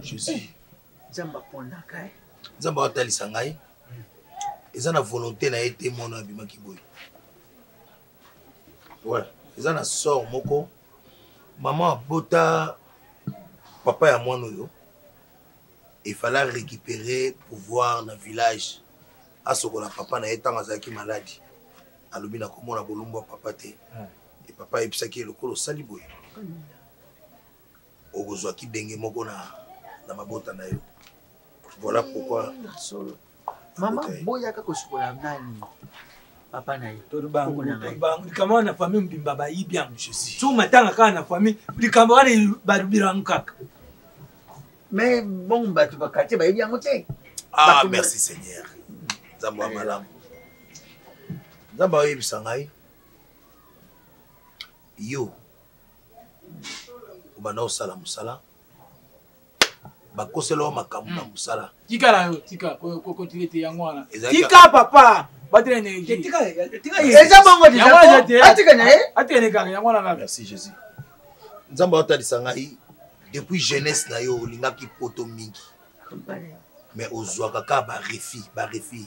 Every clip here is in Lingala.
jésus nzambe aponaka ye nzambe atalisa ngai eza na volonté na ye te mono abimaki boye ouais eza na sort moko mama abota papa ya mwana oyo efala récupérer pouvoir na village asokola papa na ye ntango azalaki maladi alobi nakomona bolumbu ya papa te e papa ayebisaki ye lokola osali boye okozwa kibenge moko na, na mabota na yo voilà pourquoi solo mama boyaka kosukola nani papa na ye tolibango likambo wana na famille mobimba bayibi yango jésus so matanga kaka na famille likambo wana balobirano kaka mais bongo bato bakartier bayebi yango te ah merci seigneur nzambe ya malamu nzambe aoyebisa ngai yo obanda osala mosala bakosela yo makambo na hmm. mosala tikala yo tika kokotile te yango wana tika papa batela energieeza bongo atika na ye atika ne kaka yango wana kaka merci jésus nzambe aotalisa ngai depuis jeunesse na yo olingaki poto mingi mais ozwaka kaka barefi barefi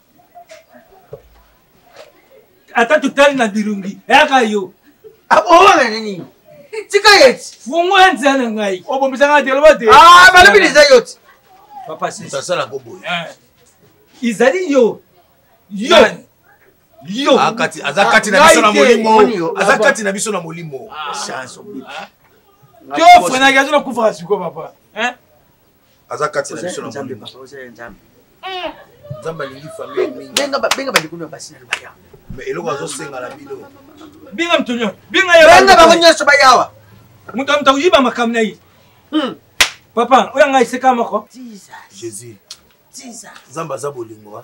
ata totali na bilongi yaka yo akowana ah, na nini tika yeti fungola nzela na ngai obomisanga te loba te ah, balobi liza yo ti papasasala koboye eh. izali yo yo yo ah, aza kati na biso na molimo aza kati na biso na molimo chance to frenaki azo na kufaka sikoyo papa aza kati na biso na nzambe papa oza ya nzambe eh! nzambe alingi famille mingi benga benga ba likolo ya basi na libaya mais eloko azosenga na bino benga moto nyonso benga ya benga bango nyonso bayawa moto moto akoyiba makambo na ye hmm. papa oyo anga eseka moko jesus jesus nzambe aza bolingo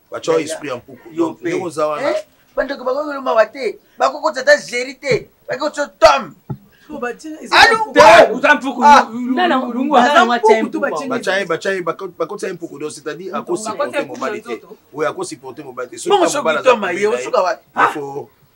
batyao esprit ya mpuku ndenge oza wana eh? bandeko bakoki koloma wa te bakoki kotya ata zeri te bakoki kotya tome bakotisa ye mpuku do c'est-à-dire akosupporte mobali te oyo akosupporte mobali te soki abala na mobali na ye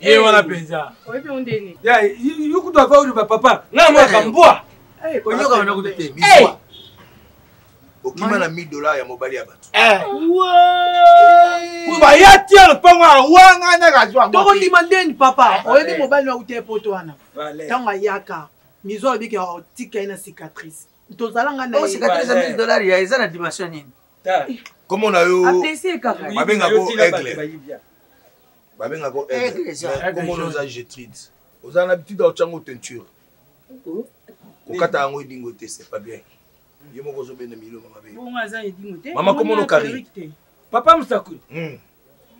ye eh. wana mpenza yo kutu ava oloba papa ngai moyaka eh. mbwa eh, oyoka wana kutu te mbwa okima na 1000 dollars ya mobali ya bato baya tia lopango awa ngai nakazwa tokondima ndeni papa oyebi mobali na uta epoto wana ntango ayaka mizo alobi ke otika ye na cicatrice tozala ngai oh, nacicatrice ya 1000 dollars ya eza na dimension nini komona yo babengako aigle babenga ko komona oza jetride oza na habitude ya otyango teinture kokata yango edingo te c'est pas bien ye moko ozobenda miloma mabe mama komono kari papa mosakoli hmm.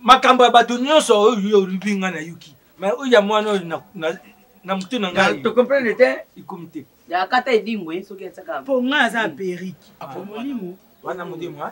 makambo ya bato nyonso oyo olubi ngai nayoki ma oyo ya mwana oyo na motu na ngai tocomprendre te ekomi te yakata edingo ye soki atyaka mpo ngai aza perike ah, molimo wana molimo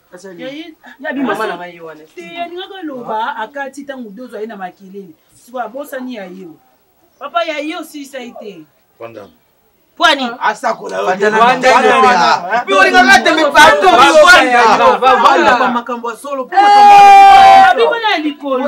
yabi mama na ngai ye wana te alingaka aloba akati ntango dozo aye na makelele sikoyo abosani ya yo papa ya yo osilisa ye te pwani asakolaalingaka tembe pardonmakambo ya solo bibona ya likolo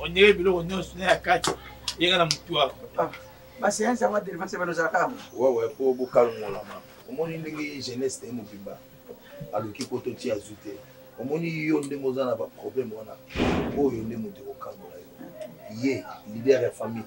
ondire biloko nyonso na ya kati yeka na motu wako ah, baseanse yango adelivance balozalaka yango wawa mpo bokalongolama omoni ndenge jeunesse te mobimba aluki mpo totia zu te omoni yo ndenge oza na baproblème wana oyo nde moto ekokangola yo ye leader ya famille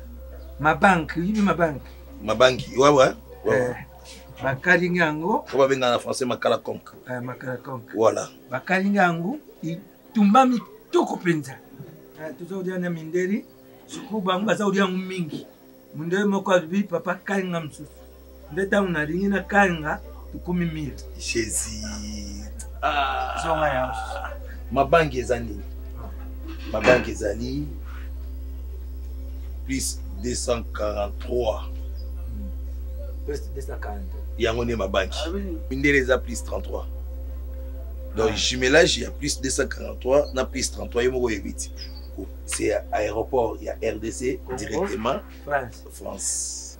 mabanki oyibi mabanki mabanki wawa eh, bakalingi yango oyo babengaka na français makala conque eh, makala conque voilà bakalingi yango itumbami toko mpenza eh, toza kolia na mindeli sikoyo bango baza kolia yango mingi mondele moko alobi papa kalinga mosusu nde tango na lingi na kanga tokomi mire jesus ah. zonga ya mabangi eza nini mabangi ezali plus 243 plus 243 yango nde mabangi ah, mindele eza plus 33 donc ah. jumelage ya plus 243 na plus 33 ye moko oyebi ti c'est aéroport ya rdc directement france, France.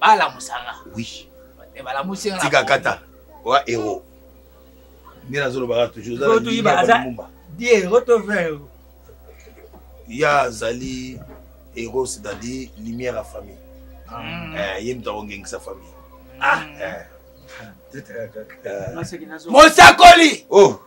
balamusa nga oui eh, balamusi nga tika kata oa hero nde nazolobaka toujours ozalaumba diero to vero ya azali hero c'est-à-dire lumière ya famille mm. eh, ye moto akongengisa famille ah, eh. mosakoli oh.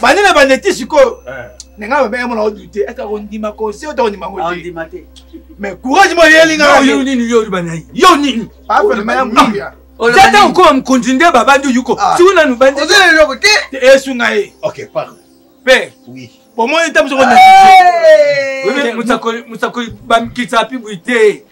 bande na bande ti sikoyo eh. na ngai babenge mona odute ete akondima conseil oto akondima ngo te mais courage moyo elingayo nini yo olibanayi yo nini ata okoma mokonzi nde babandi oyuko ah. siku nanu bandieloko te esunga ye père bomoni ntango soko mosakoli bamikisa pibu te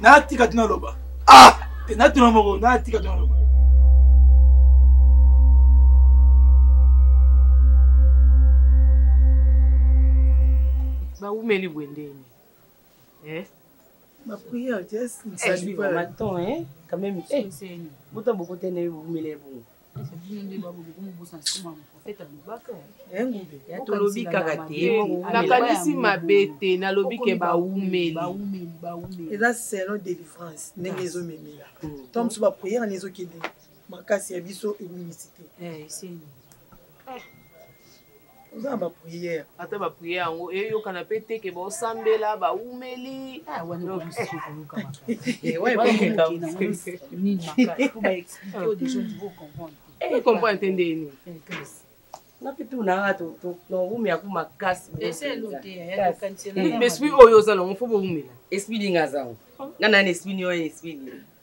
natika ti naloba ah te natuna moko natika ti naloba bawumeli bwendeni eh? Ma prière, Jess, ne eh, salit pas. Attends, hein, quand même. Eh, hey, bota boko tene wumele bongo. tolobi kaka te nakanisi mabe te nalobi ke baumeli eza selon délivrance ndenge ezomemela to mosusu bapriere na ezokende makasi ya biso ebungisi te oza na bapriere ata bapriere yango eyokana mpe te ke baosambela baumeli ah, comprendre eh, te nde nini esprit oyo oza nango fo boumela esprit ndenge azango nga nani esprit nioyo esprit nini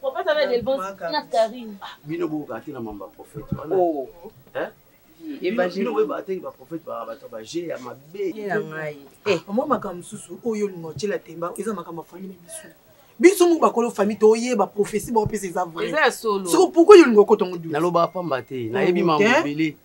Prophète avec Delbonce na Karine. Ah, bino bo ka tena mamba prophète. Oh. Hein? Évangile. Bino ba tengi ba prophète ba ba ba je ya mabe. Ya ngai. Eh, moi makambo mosusu oyo lingo tshela temba eza makambo afani na biso. biso moko bakolo famille toyeba prophétie baopesa eza vrai soki pourkoi yo olingi okota ngo naloba pamba te nayebi mambo ebele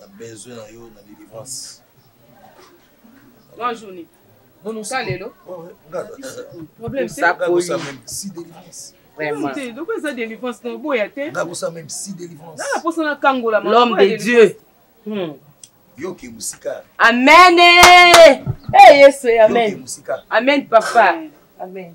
na besoin na yo na délivrance trois journée non non ça lelo problème c'est ça même si délivrance donc eza délivrance na boya te nakosa même si délivrance na posa na kangola l'homme de dieu hmm. yoke mosika amen e yesu amen amen papa amen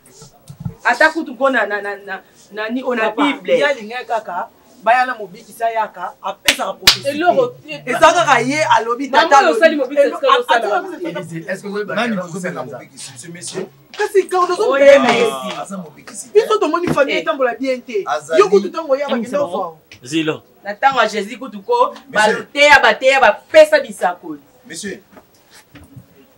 ata kutu mpo na nani oyo na bible ye alingaki kaka baya na mobikisi ayaka apesaka profesieloko eza kaka ye alobi kasi biso tomoni famille eh. etambola bien te yo kutu ntango oyaka kende ozwa zilo na ntango ya jésus kutu ko bateya bateya bapesa bisakoli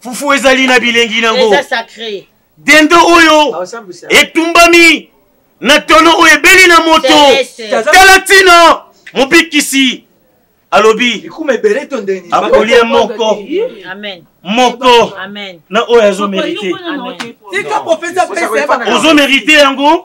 fufu ezali na bilengi nango dendo oyo ah, etumbami na tono oyo ebeli na moto tala ntina mobikisi alobi akolia moko moko na oyo azomerite ozomerite yango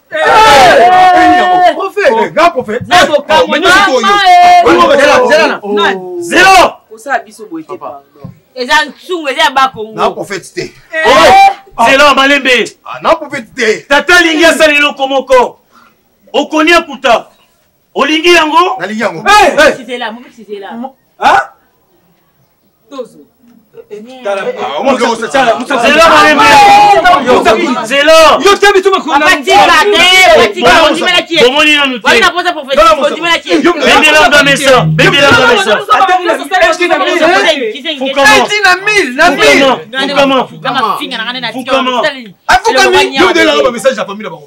eza nsungu eza ya bakongoprofete te zela ya malembe naprofete te tata alingi asala eloko moko okoni akuta olingi yango nalingi yango